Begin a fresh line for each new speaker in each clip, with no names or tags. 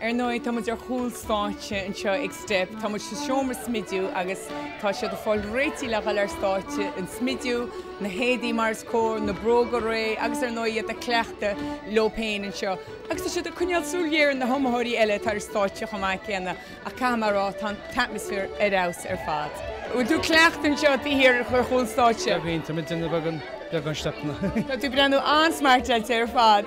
Ar ndóigh, tá muid ar chúl stáitse anseo ag Steip, tá muid sa seomra smidiú agus tá siad ag fáil réitithe le dhul ar stáitse, an smidiú, na héadaí mar is cóir, na bróga réidh agus ar ndóigh iad ag cleachtadh leo féin anseo. Agus tá siad ag coinneáil súil ghéar ar na hiomaitheoirí eile atá ar stáitse chomh maith céanna ach caithfidh mé a rá, tá an t-atmaisféar ar fheabhas ar fad. An bhfuil tú ag cleachtadh anseo taobh thiar ar chúl stáitse? Beagáinín, tá mé ag déanamh
beagán steipeanna. Tá tú ag breathnú
an-smartáilte ar fad.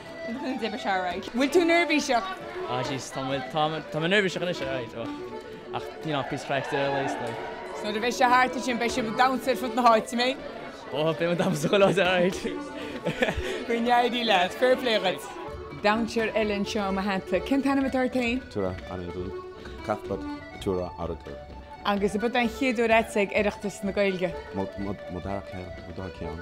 D'oibrigh sé alright. Bhfuil tú
neirbhíseach? Ah jeez, tá
mé, tá mé, tá mé neirbhíseach anois, alright, oh. Ach, you know, píosa craic atá leis, like. So, nuair a bheidh sé thart
ansin, beidh sibh ag damhsa ar fud na háite, an mbeidh? Oh, beidh mé
ag damhsa go láidir, alright.
Go n-éirí leat, fair play agat. Damhsóir eile anseo a hata, cén t-ainm atá ort féin? Tura an
dú, Cathbad tura agur. Agus ab é an
chéad uair dhuitse ag Oireachtas na Gaeilge. Mo
dhara ceann, dara ceann.